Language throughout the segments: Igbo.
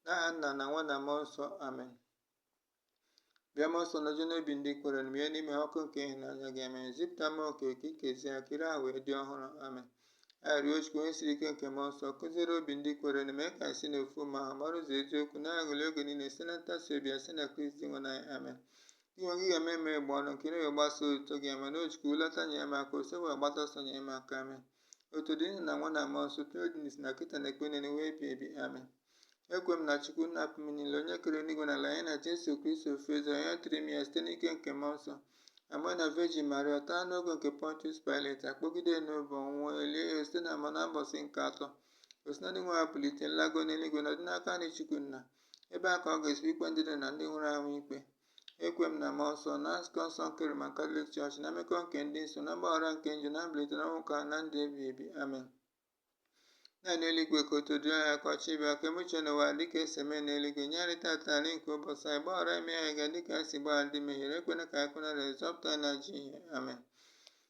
n'aha nna na nwa na mmụọ nsọ amen bịa mmụọ nsọ nojuo n'obi ndị kwerenụ mụnye n'ime ha ọkụ nke ịhụnanya gị amen zipụta mmụọ nke gị ka e kezie ha ka iru ụwa wee dị ọhụrụ amen arịrịọ chukwu onye siri ike nke mmụọ nsọ kuziere obi ndị kwerenụ mee ka anyị si n'ofu mmụọ ahụ mara ụzọ eziokwu na-aṅụli oge niile site na ntasi obi ya site na kristi dinwenụ anyị amen dinwenụ ị ga-emeghe egbugbere ọnụ m ka ọnụ m wee gbasa otuto gị amen o chukwu lọta nyere m aka osebụrụwa gbata ọsọ nyere m aka amen otuto dịrị nna na nwa na mmụọ nsọ otu ọ dị n'isi na kịta na mgbe niile ụwa ebighị ebi amen ekwe m na chukwu nna pụrụ ime ihe niile onye kere eluigwe na ala ya na jesu kristi ofu eze onye a tụrụ ime ya site n'ike nke mmụọ nsọ a mụọ ya na vejin maria taa n'oge nke pontius pilet akpọgide n'obe ọ nwụọ e lie ya zịda n'ala mmụọ na mbọsị nke atọ o si na ndị nwụrụ anwụ bilite lagoo n'eluigwe nọdụ n'aka nri chukwu nna ebe a ka ọ ga-esi bịa ikpe ndị dị ndụ na ndị nwụrụ anwụ ikpe ekwe m na mmụọ nsọ na nzukọ nsọ nke Roman Katọlik Chọọchị na mmekọ nke ndị nsọ na mgbaghara nke njọ na mbilite n'ọnwụ nke ahụ na ndụ ebighị ebi amen nna anyị nọ n'eluigwe ka otuto dịrị aha gị ka ọchịchị gị bịa ka e mee uche gị n'ụwa dịka esi eme n'eluigwe nye anyị tata nri nke ụbọchị anyị gbaghara mmehie anyị ga dịka anyị si gbaghara ndị mehiere ekwena ka anyị kwenye na nranye zọpụta anyị n'ajọ ihe amen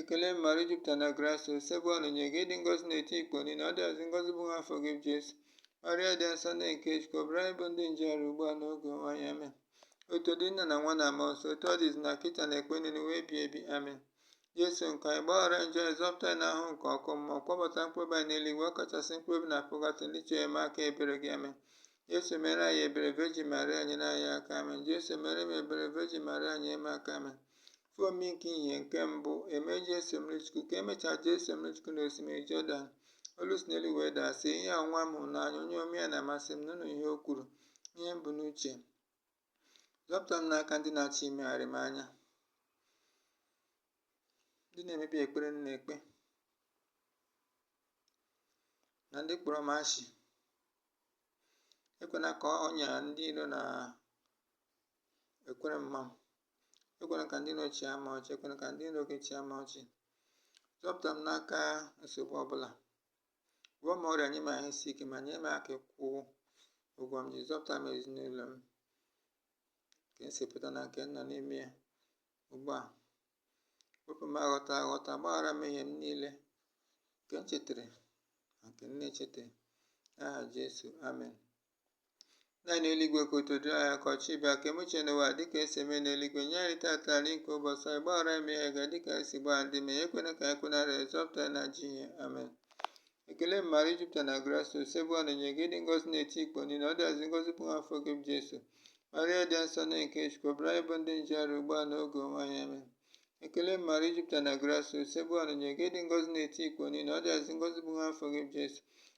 ekele maria jupụtara na grasịa osebụrụwa nọnyeere gị ị dị ngọzi n'etiti ikporo niile ọ dịazị ngọzi bụ nwa afọ gị jesu maria dị nsọ nne nke chukwu rịọbara anyị bụ ndị njọ arịrịọ ugbu a n'oge ọnwụ anyị amen otuto dịrị nna na nwa na mmụọ nsọ otu ọ dị n'isi na kịta na mgbe niile ụwa ebighị ebi amen jesu nke anyị gbaghara njọ anyị zọpụta anyị n'ahụhụ nke ọkụ mmụọ kpọbata mkpụrụobi anyị n'eluigwe ọ kachasị mkpụrụobi na pụgatọrị ndị chọrọ enyemaka ebere gị amen jesu meere anyị ebere vejin maria nyere anyị aka amen jesu meere m ebere vejin maria nyere m aka amen Ife omimi nke ìhè nke mbụ ime Jesu mmiri Chukwu ka emechaa Jesu mmiri Chukwu n'osimiri Jọdan olu si n'eluigwe daa sị ihe a bụ nwa m hụrụ n'anya onye omume ya na-amasị m nụrụnụ ihe o kwuru ihe m bu n'uche zọpụta m n'aka ndị na-achọ imegharị m anya ndị na-emebi ekpere m na-ekpe na ndị kpọrọ m asị ekwena ka ọnya ndị iro na-ekwere m ma m ekwena ka ndị iro chịa m ọchị ekwena ka ndị iro gị chịa m ọchị zọpụta m n'aka nsogbu ọbụla gwọọ m ọrịa nye m ahụ isi ike ma nye m aka ịkwụ ụgwọ m ji zọpụta m ezinụlọ m nke m si pụta na nke m nọ n'ime ya ugbu a wepụ m aghọta aghọta gbaghara m mmehie m niile nke m chetara na nke m na-echetaghị n'aha Jesu amen nna anyị nọ n'eluigwe ka otuto dịrị aha gị ka ọchịchị gị bịa ka e mee uche gị n'ụwa dịka esi eme n'eluigwe nye anyị tata nri nke ụbọchị anyị gbaghara anyị mmehie anyị ga dịka anyị si gbaghara ndị mehiere ekwena ka anyị kwenye na nranye zọpụta anyị n'ajọ ihe amen ekele maria jupụtara na grasịa osebụrụwa nọnyeere gị ị dị ngọzi n'etiti ikporo niile ọ dịazị ngọzi bụ nwa afọ gị bụ jesu maria dị nsọ nne nke chukwu rịọbara anyị bụ ndị njọ arịrịọ ugbu a n'oge ọnwụ anyị amen ekele maria i jupụtara na grasịa osebụrụwa nọnyeere gị ị dị ngọzi n'etiti ikporo niile ọ dịazị ngọzi bụ nwa afọ gị bụ jesu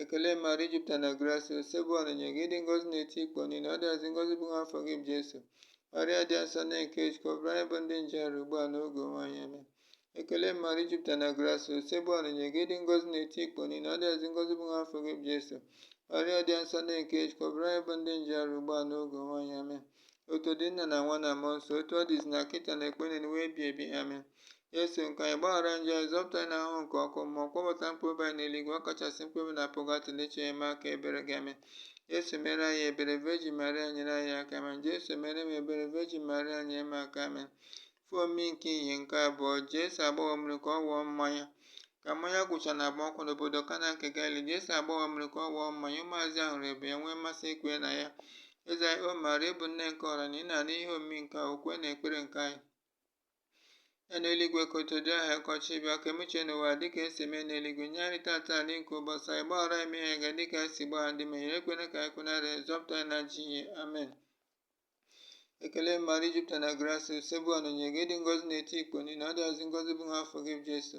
ekele maria i jupụtara na grasia osebụrụwa nọnyere gị ị dị ngọzi n'etiti ikporo niile ọ dịazị ngọzi bụ nwa afọ gị bụ jesu maria dị nsọ nne nke chukwu rịọbara anyị bụ ndị njọ arịrịọ ugbu a n'oge ọnwụ anyị amen ekele maria i jupụtara na grasia osebụrụwa nọnyere gị ị dị ngọzi n'etiti ikporo niile ọ dịazị ngọzi bụ nwa afọ gị bụ jesu maria dị nsọ nne nke chukwu rịọbara anyị bụ ndị njọ arịrịọ ugbu a n'oge ọnwụ anyị amen otito dịrị nna na nwa na mmụọ nsọ otu ọ dị n'izizi na kịta na ekpo niile n'ụwa ebighị ebi amen Jesu, nke anyị gbaghara njọ anyị, zọpụta anyị n'ahụhụ nke ọkụ mmụọ, kpọbata mkpụrụ obi anyị n'eluigwe, ọ kachasị mkpụrụ obi na pọgatọrị ndị chọrọ enyemaka ebere gị amen. Jesu meere anyị ebere, Virgin Maria nyere anyị aka amen. Jesu meere m ebere, Virgin Maria nyere m aka amen. Ihe omimi nke ìhè nke abụọ, Jesu agbanwo mmiri ka ọ ghọọ mmanya. Ka mmanya gwụcha na agbamakwụkwọ n'obodo Kana nke Galili, Jesu agbanwo mmiri ka ọ ghọọ mmanya, ụmụazụ ya hụrụ ebube ya nwee mmasị ikwere na ya. Eze anyị, O Maria, ị bụ nne nke ọra na ị na-anụ ihe omimi nke a, okwe na ekpere nke anyị. anyị nọ n'eluigwe ka otito dịrị aha gị ka ọchịchị gị bịa ka e mee uche gị n'ụwa dịka e si eme n'eluigwe nye anyị tata nri nke ụbọchị anyị gbaghara anyị mmehie anyị ga dịka anyị si gbaghara ndị mehiere anyị ekwena ka anyị kwe na nranye zọpụta anyị n'ajọ ihe amen ekele maria i jupụtara na grasia osebụrụwa nọnyere gị ị dị ngọzi n'etiti ikporo niile ọ dịazị ngọzi bụ nwa afọ gị bụ jesu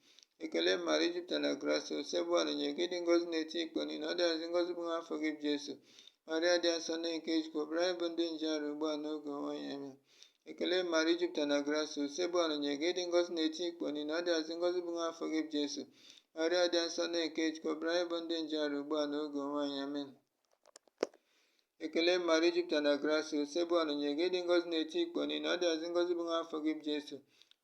ekele maria i jupụtara na grasia osebụrụwa nọnyere gị ị dị ngọzi n'etiti ikporo niile ọ dịazị ngọzi bụ nwa afọ gị bụ jesu maria dị nsọ nne nke chukwu rịọbara anyị bụ ndị njọ arịrịọ ugbu a n'oge ọnwụ anyị amen ekele maria i jupụtara na grasia osebụrụwa nọnyere gị ị dị ngọzi n'etiti ikporo niile ọ dịazị ngọzi bụ nwa afọ gị bụ jesu maria dị nsọ nne nke chukwu rịọbara anyị bụ ndị njọ arịrịọ ugbu a n'oge ọnwụ anyị amen ekele maria i jupụtara na grasia osebụrụwa nọnyere gị ị dị ngọzi n'etiti ikporo niile ọ dịazị ngọzi bụ nwa afọ gị bụ jesu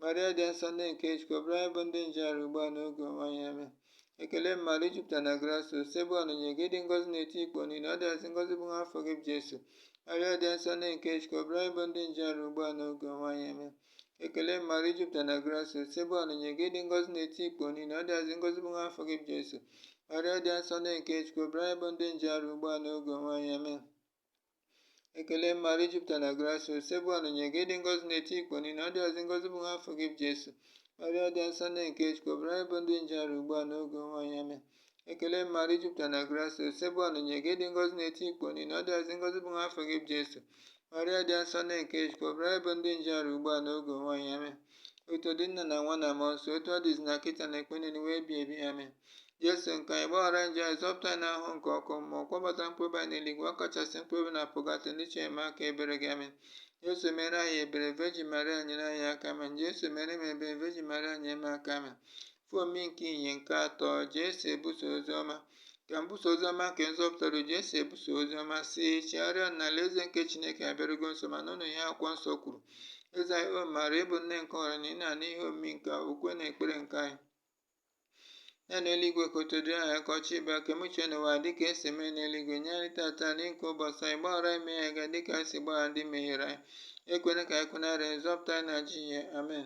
maria dị nsọ nne nke chukwu rịọbara anyị bụ ndị njọ arịrịọ ugbu a n'oge ọnwụ anyị amen ekele maria i jupụtara na grasia osebụrụwa nọnyere gị ị dị ngọzi n'etiti ikporo niile ọ dịazị ngọzi bụ nwa afọ gị bụ jesu maria dị nsọ nne nke chukwu rịọbara anyị bụ ndị njọ arịrịọ ugbu a n'oge ọnwụ anyị amen Ekele Maria i jupụtara na grasia Osebụrụwa nọnyere gị ị dị ngọzi n'etiti ikporo niile ọ dịazị ngọzi bụ nwa afọ gị bụ Jesu Maria dị asọ nne nke Chukwu rịọbara anyị bụ ndị njọ arịrịọ ugbu a n'oge ọnwụ anyị amen ekele Maria i jupụtara na grasia Osebụrụwa nọnyere gị ị dị ngọzi n'etiti ikporo niile ọ dịazị ngọzi bụ nwa afọ gị bụ Jesu Maria dị asọ nne nke Chukwu rịọbara anyị bụ ndị njọ arịrịọ ugbu a n'oge ọnwụ anyị amen ekele maria i jupụtara na grasia osebụrụwa nọnyere gị ị dị ngọzi n'etiti ikporo niile ọ dịazị ngọzi bụ nwa afọ gị bụ jesu maria dị asọ nne nke chukwu rịọbara anyị bụ ndị njọ arịrịọ ugbu a n'oge ọnwụ anyị amen otito dịrị nna na nwa na mmụọ nsọ otu ọ dị n'izizi na kịta na ekpo niile n'ụwa ebighị ebi amen jesu nke anyị gbaghara njọ anyị zọpụta anyị n'ahụhụ nke ọkụ mmụọ kpọbata mkpụrụ obi anyị n'eluigwe ọ kachasị mkpụrụ obi na pọgatọrị ndị chọrọ enyemaka ebere gị amen jesu meere anyị ebere vejin maria nyere anyị aka amen jesu meere m ebere vejin maria nyere m aka amen Ife omimi nke ihe nke atọ jesu ebusa ozi ọma ka mbusa ozi ọma nke nzọpụta ruo jesu ebusa ozi ọma sị chegharịa na alaeze nke chineke abịarugo nso ma nụnụ ihe akwụkwọ nsọ kwuru eze anyị o maria ị bụ nne nke ọra niile na-anụ ihe omimi nke ukwe na ekpere nke anyị nna anyị nọ n'eluigwe ka otito dịrị aha gị ka ọchịchị gị bịa ka e mee uche gị n'ụwa dịka e si eme n'eluigwe nye anyị tata nri nke ụbọchị anyị gbaghara anyị mmehie anyị ga dịka anyị si gbaghara ndị mehiere anyị ekwena ka anyị kwenye na nranye ma zọpụta anyị n'ajọ ihe amen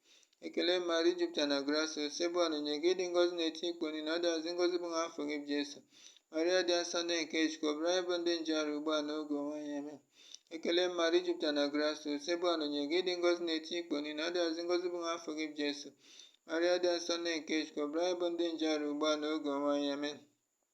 ekele maria i jupụtara na grasịa osebụrụwa nọnyere gị ị dị ngọzi n'etiti ikporo niile ọ dịazị ngọzi bụ nwa afọ gị bụ jesu maria dị nsọ nne nke chukwu rịọbara anyị bụ ndị njọ arịrịọ ugbu a n'oge ọnwụ anyị amen ekele maria i jupụtara na grasịa osebụrụwa nọnyere gị ị dị ngọzi n'etiti ikporo niile ọ dịazị ngọzi bụ nwa afọ gị bụ jesu maria dị nsọ nne nke chukwu rịọbara anyị bụ ndị njọ arịrịọ ugbu a n'oge ọnwụ anyị amen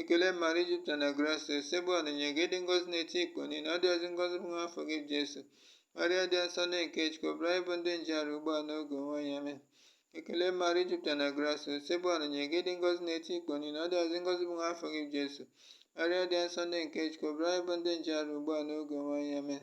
Ekele Maria i jupụtara na grasịa Osebụrụwa nọnyere gị ị dị ngọzi n'etiti ikporo niile ọ dịazị ngọzi bụ nwa afọ gị bụ Jesu Maria dị nsọ nne nke Chukwu rịọbara anyị bụ ndị njọ arịrịọ ugbu a n'oge ọnwụ anyị amen Ekele Maria i jupụtara na grasịa Osebụrụwa nọnyere gị ị dị ngọzi n'etiti ikporo niile ọ dịazị ngọzi bụ nwa afọ gị bụ Jesu Maria dị nsọ nne nke Chukwu rịọbara anyị bụ ndị njọ arịrịọ ugbu a n'oge ọnwụ anyị amen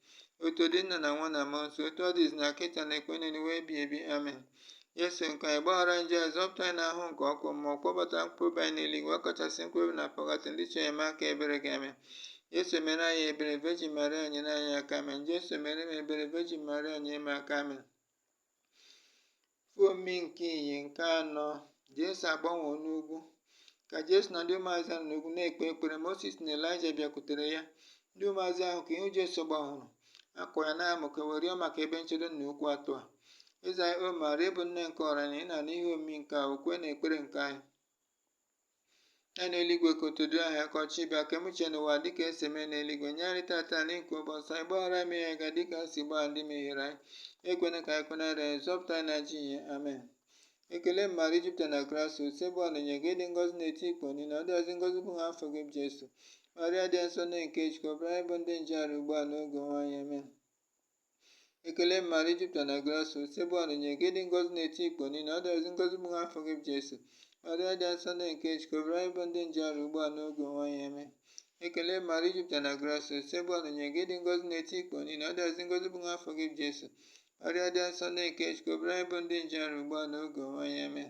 otito dịrị nna na nwa na mmụọ nsọ otu ọ dị izizi na kịta na mgbe niile ụwa ebighị ebi amen Jesu nke anyị gbaghara njọ anyị zọpụta anyị n'ahụhụ nke ọkụ mmụọ kpọbata mkpụrụ obi anyị n'eluigwe kachasị mkpụrụ obi nọ na pọgatọrị ndị chọrọ enyemaka ebere gị amen Jesu mere anyị ebere Virgin Maria nyere anyị aka amen Jesu mere m ebere Virgin Maria nyere m aka amen Ife omimi nke ihe nke anọ Jesu agbanwee n'ugwu ka Jesu na ndị ụmụazụ ya nọ n'ugwu na-ekpe ekpere Moses na Elaịja bịakwutere ya ndị ụmụazụ ahụ ka ihu Jesu gbanworo akwa ya na-amụke wee rịọ maka ebe nchedo na okwu atọ a Eze anyị O Maria ị bụ nne nke ọra niile na-anụ ihe omimi nke a ukwe na ekpere nke anyị nna anyị nọ n'eluigwe ka otito dịrị aha gị ka ọchịchị gị bịa ka e mee uche gị n'ụwa dịka e si eme n'eluigwe nye anyị tata nri nke ụbọchị anyị gbaghara anyị mmehie anyị ga dịka anyị si gbaghara ndị mehiere anyị ekwena ka anyị kwenye na nranye zọpụta anyị n'ajọ ihe amen ekele maria i jupụtara na grasịa osebụrụwa nọnyere gị ị dị ngọzi n'etiti ikporo niile ọ dịazị ngọzi bụ nwa afọ gị bụ jesu maria dị nsọ nne nke chukwu rịọbara anyị bụ ndị njọ arịrịọ ugbu a n'oge ọnwụ anyị amen ekele maria i jupụtara na grasịa osebụrụwa nọnyere gị ị dị ngọzi n'etiti ikporo niile ọ dịazị ngọzi bụ nwa afọ gị bụ jesu maria dị asọ nne nke chukwu rịọbara anyị bụ ndị njọ arịrịọ ugbu a n'oge ọnwụ anyị amen ekele maria i jupụtara na grasịa osebụrụwa nọnyere gị ị dị ngọzi n'etiti ikporo niile ọ dịazị ngọzi bụ nwa afọ gị bụ jesu maria dị asọ nne nke chukwu rịọbara anyị bụ ndị njọ arịrịọ ugbu a n'oge ọnwụ anyị amen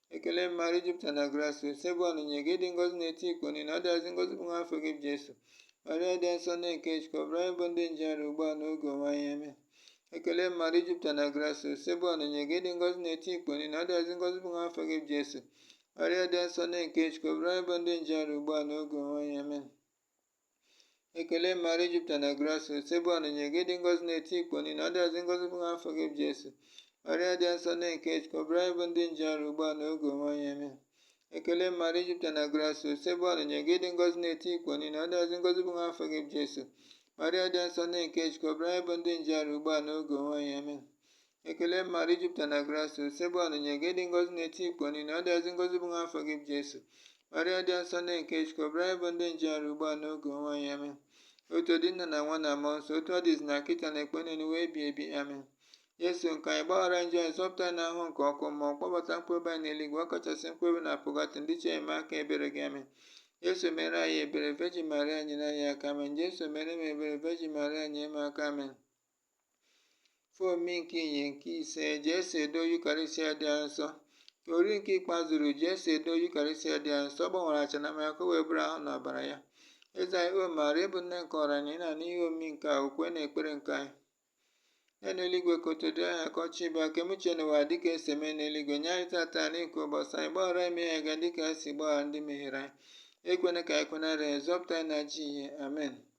ekele maria i jupụtara na grasịa osebụrụwa nọnyere gị ị dị ngọzi n'etiti ikporo niile ọ dịazị ngọzi bụ nwa afọ gị bụ jesu maria dị nsọ nne nke chukwu rịọbara anyị bụ ndị njọ arịrịọ ugbu a n'oge ọnwụ anyị amen ekele maria i jupụtara na grasịa osebụrụwa nọnyere gị ị dị ngọzi n'etiti ikporo niile ọ dịazị ngọzi bụ nwa afọ gị bụ jesu maria dị nsọ nne nke chukwu rịọbara anyị bụ ndị njọ arịrịọ ugbu a n'oge ọnwụ anyị amen ekele maria i jupụtara na grasia osebụrụwa nọnyere gị ị dị ngọzi n'etiti ikporo niile ọ dịazị ngọzi bụ afọ gị bụ jesu maria dị nsọ nne nke chukwu yọbara anyị bụ ndị njọ arịrịọ ugbu a na oge ọnwụ anyị amen ekele maria i jupụtara na grasia osebụrụwa nọnyere gị ị dị ngọzi n'etiti ikporo niile ọ dịazị ngọzi bụ afọ gị bụ jesu maria dị nsọ nne nke chukwu yọbara anyị bụ ndị njọ arịrịọ ugbu a na oge ọnwụ anyị amen Ekele Maria i jupụtara na grasia Osebụrụwa nọnyere gị ị dị ngọzi n'etiti ikporo niile ọ dịazị ngọzi bụ nwa afọ gị bụ Jesu Maria dị nsọ nne nke Chukwu yọbara anyị bụ ndị njọ arịrịọ ugbu a n'oge ọnwụ anyị amen otito dịrị nna na nwa na mmụọ nsọ otu ọ dị izizi na kịta na ekpo niile ụwa ebighị ebi amen Jesu nke anyị gbaghara njọ anyị zọpụta anyị n'ahụhụ nke ọkụ mmụọ kpọbata mkpụrụobi anyị n'eluigwe ọ kachasị mkpụrụobi na pọgatọrị ndị chọrọ enyemaka ebere gị amen Jesu meere anyị ebere Virgin Maria nyere anyị aka amen Jesu meere m ebere Virgin Maria nyere m aka amen ife omimi nke ìhè nke ise Jesu edo Yukarịsịa dị asọ ka oriri nke ikpeazụ ruru Jesu edo Yukarịsịa dị asọ gbanwere achịcha na mmanya ka wee bụrụ ahụ na ọbara ya eze anyị Maria ị bụ nne nke ọra anyị na n'ihe omimi nke a ukwe na ekpere nna anyị nọ n'eluigwe ka otito dịrị aha gị ka ọchịchị gị bịa ka e mee uche gị n'ụwa dịka esi eme n'eluigwe nye anyị tata nri nke ụbọchị anyị gbaghara anyị mmehie anyị ga dịka anyị si gbaghara ndị mehiere anyị ekwena ka anyị kwenye na nranye zọpụta anyị n'ajọ ihe amen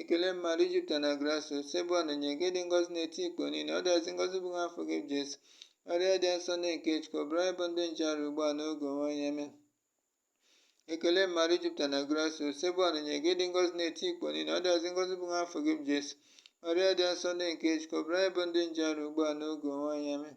ekele maria i jupụtara na grasia osebụrụwa nọnyere gị ị dị ngọzi n'etiti ikporo niile ọ dịazị ngọzi bụ nwa afọ gị bụ jesu maria dị nsọ nne nke chukwu yọbara anyị bụ ndị njọ arịrịọ ugbu a n'oge ọnwụ anyị amen ekele maria i jupụtara na grasia osebụrụwa nọnyere gị ị dị ngọzi n'etiti ikporo niile ọ dịazị ngọzi bụ nwa afọ gị bụ jesu maria dị nsọ nne nke chukwu yọbara anyị bụ ndị njọ arịrịọ ugbu a n'oge ọnwụ anyị amen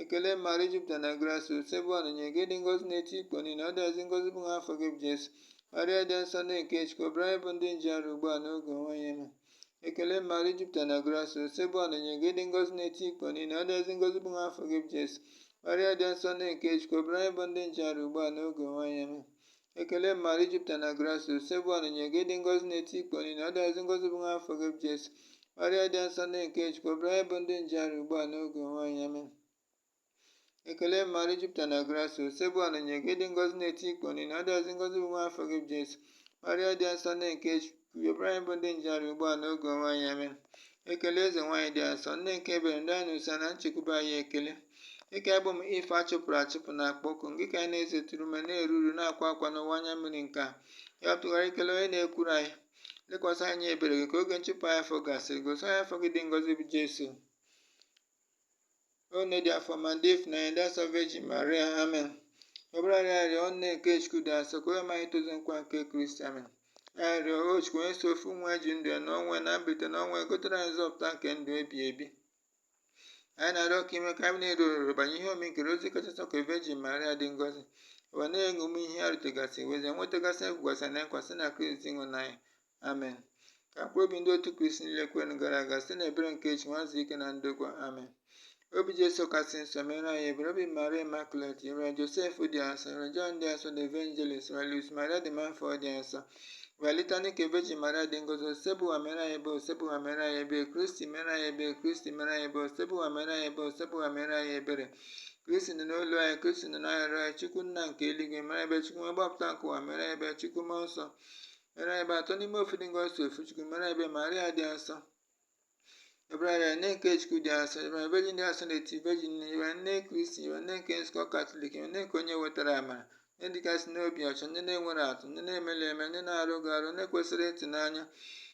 ekele maria i jupụtara na grasia osebụrụwa nọnyere gị ị dị ngọzi n'etiti ikporo niile ọ dịazị ngọzi bụ nwa afọ gị bụ jesu maria dị nsọ nne nke chukwu yọbara anyị bụ ndị njọ arịrịọ ugbu a n'oge ọnwụ anyị amen ekele maria i jupụtara na grasia osebụrụwa nọnyere gị ị dị ngọzi n'etiti ikporo niile ọ dịazị ngọzi bụ nwa afọ gị bụ jesu maria dị nsọ nne nke chukwu yọbara anyị bụ ndị njọ arịrịọ ugbu a n'oge ọnwụ anyị amen Ekele Maria i jupụtara na grasia Osebụrụwa nọnyere gị ị dị ngọzi n'etiti ikporo niine ọ dịazị ngọzi bụ nwa afọ gị bụ Jesu Maria dị nsọ nne nke Chukwu yọbara anyị bụ ndị njọ arịrịọ ugbu a n'oge ọnwụ anyị amen Ekele Maria i jupụtara na grasia Osebụrụwa nọnyere gị ị dị ngọzi n'etiti ikporo niine ọ dịazị ngọzi bụ nwa afọ gị bụ Jesu Maria dị nsọ nne nke Chukwu Yọbara anyị bụ ndị njọ arịrịọ ugbu a n'oge ọnwụ anyị amen. Ekele eze nwaanyị dị asọ, nne nke ebere ndụ anyị na ụsọ na nchekwube anyị ekele. Gị ka anyị bụ ụmụ Iv achụpụrụ achụpụ na-akpọku ngị ka anyị na-esetụrụ ume na-eru uru na-akwa akwa n'ụwa anya mmiri nke a. Ya tụgharịkene onye na-ekwuru anyị. Lekwasị anya ebere gị ka oge nchụpụ anyị afọ gasịrị. Gosi anyị afọ gị dị ngọzi bụ Jesu. O nne dị afọ ọma dị ịfụnanya dị asọ Virgin Maria amen. Yọbara anyị arịrịọ o nne nke Chukwu dị asọ ka e wee mee anyị tozu nkwa nke Kristi amen. Ka anyị rịọ o Chukwu onye sọ ofu nwa ya ji ndụ ya na ọnwụ ya na mbilite na ọnwụ ya egotere anyị nzọpụta nke ndụ ebighị ebi. Anyị na-arịọ ka i mee ka anyị na-eru oruru banyere ihe omimi nke Rozari kachasị asọ nke Virgin Maria dị ngọzi. Wee na-eṅomi ihe ha rụtụgasị wee nwetagasị ihe e kwegasị na nkwa site na Kristi Dinwenụ anyị amen ka mkpụrụ obi ndị otu kristi niile kwerenụ gara aga site na ebere nke chukwu wee zuru ike na ndokwa amen obi jesu kasị nsọ mere anyị ebere obi maria imakulet yọọrọ josef dị asọ yọọrọ jọn dị asọ the evangelist yọọrọ luis maria de montfort dị asọ yọọrọ litani nke vejin maria dị ngọzi osebụrụwa mere anyị ebere osebụrụwa mere anyị ebere kristi mere anyị ebere kristi mere anyị ebere osebụrụwa mere anyị ebere osebụrụwa mere anyị ebere kristi nụrụ olu anyị kristi nụrụ arịrịọ anyị chukwu nna nke eluigwe mere ebere chukwu nwa onye mgbapụta nke ụwa mere ebere chukwu mmụọ nsọ Mere ebere atọ n'ime ofu dị ngọzi ofu Chukwu, mere ebere Maria dị asọ. Yọbara anyị nne nke Chukwu dị asọ, yọbara anyị Virgin dị asọ n'etiti Virgin niile, yọbara anyị nne Kristi, yọbara anyị nne nke nzukọ Katọlik, yọbara anyị nne nke onye wetara amara, nne dịkasị n'obi ọcha, nne na-enweghị atụ, nne na-emerụghị emerụ, nne na-arụghị arụ, nne kwesịrị ịtụnanya,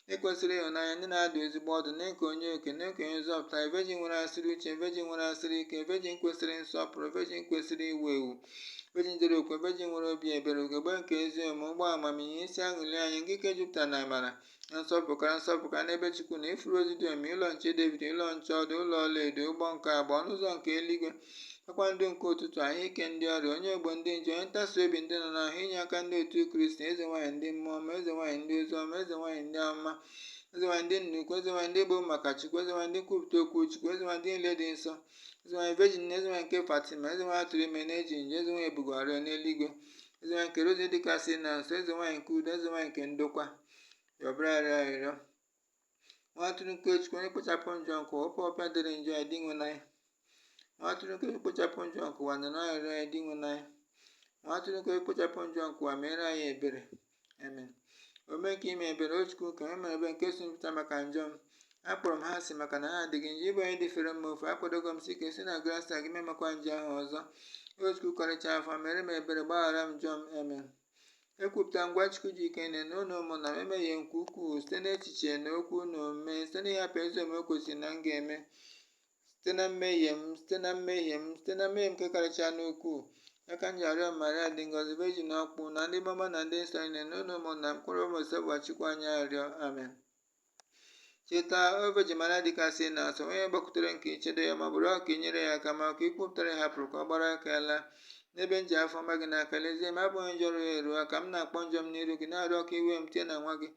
nne kwesịrị ịhụnanya, nne na-adụ ezigbo ọdụ, nne nke onye okike, nne nke onye nzọpụta, Virgin nwekasịrị uche, Virgin nwekasịrị ike, Virgin kwesịrị nsọpụrụ, Virgin kwesịrị iwu ewu. vejin dịrị okwu vejin nwere obi ebere ugegbe nke ezi omume ukpo amamihe isi aṅụli anyị nke jupụtara na amara na nsọpụkara nsọpụkara n'ebe chukwu nọ ifuru rozi dị omimi ụlọ nche david ụlọ nche ọdụ ụlọ ọlaedo ụgbọ nke agba ọnụ ụzọ nke eluigwe kpakpando nke ụtụtụ ahụ ike ndị ọrịa onye ogbo ndị njọ onye ntasi obi ndị nọ n'ahụhụ inye aka ndị otu kristi eze nwaanyị ndị mmụọ ọma eze nwaanyị ndị ozi ọma eze nwaanyị ndị amụma eze nwaanyị ndị nna ukwu eze nwaanyị ndị egburu maka chukwu eze nwaanyị ndị nkwupụta okwu chukwu eze nwaanyị ndị niile dị nsọ eze nwanyị vejin niile eze nwanyị nke fatima eze nwanyị a tụrụ ime na-ejighị njọ eze nwanyị e bugoro n'eluigwe eze nwanyị nke rozari dịkasị na asọ eze nwanyị nke udo eze nwanyị nke ndokwa yọbara anyị arịrịọ nwa atụrụ nke chukwu onye na-ekpochapụ njọ nke ụwa wepụ ọpịpịa dịrị njọ anyị dinwenụ anyị nwa atụrụ na-ekpochapụ njọ nke ụwa nụrụ arịrịọ anyị dinwenụ anyị nwa atụrụ na-ekpochapụ njọ nke ụwa meere anyị ebere amen omume nke ime ebere o chukwu ka eme ebere nke si m pụta maka njọ m akpọrọ m ha asị maka na ha dị gị njọ ị bụ onye dịfere mma oke akwadogo m sie ike site na grasịa gị m ama emekwa njọ ahụ ọzọ o chukwu karịcha afọ ọma mere m ebere gbaghara m njọ m amen ekwupụtara m gwa chukwu ji ike niile na unu ụmụnna m na m emehie nke ukwuu site n'echiche na okwu na omume site n'ịhapụ ezi omume kwesịrị na m ga-eme site na mmehie m site na mmehie m site na mmehie m nke karịchaa n'ukwuu ya ka m ji arịọ maria dị ngọzi vejin ọkpụ na ndị mmụọ ọma na ndị nsọ niile na unu ụmụnna m ka unu rịọrọ m osebụrụwa chukwu anyị arịrịọ amen cheta o vejin maria dịkasị na asọ onye gbakwutere nke i chedo ya ma ọ bụ rịọ ka i nyere ya aka ma ka i kwupụtara ya hapụrụ ka ọ gbara aka wee laa N'ebe m ji afọ ọma gị n'aka, lezie m, abụghị njọ rụrụ eru a ka m na-akpọ njọ m n'iru gị, na-arịọ ka i we m tie na nwa gị.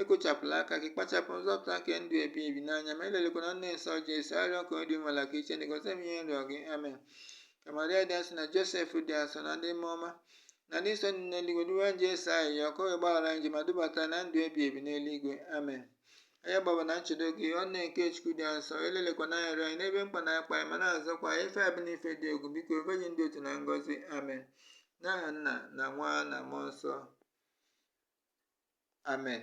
Ekochapụla aka gị, kpachapụ nzọpụta nke ndụ ebi ebi n'anya m, elelịkwala nne nsọ Jesu, arịrịọ nke onye dị nwela ka i chee ntị gọzie m ihe m rịọ gị. Amen. Ka Maria dị asọ na Josef dị asọ na ndị mmụọ ọma na ndị nsọ dị n'eluigwe duwe Jesu ayịyọ ka o wee gbaghara anyị njọ ma dubata na ndụ ebi ebi n'eluigwe. Amen. Anyị gbaba na nchedo gị, O Nne nke Chukwu dị asọ, elelikwana arịrịọ anyị n'ebe mkpa na-akpa anyị ma na-azọkwa anyị ife abụ n'ife dị egwu biko O Vejin dị otito na ngọzi amen n'aha nna na nwa na mmụọ nsọ amen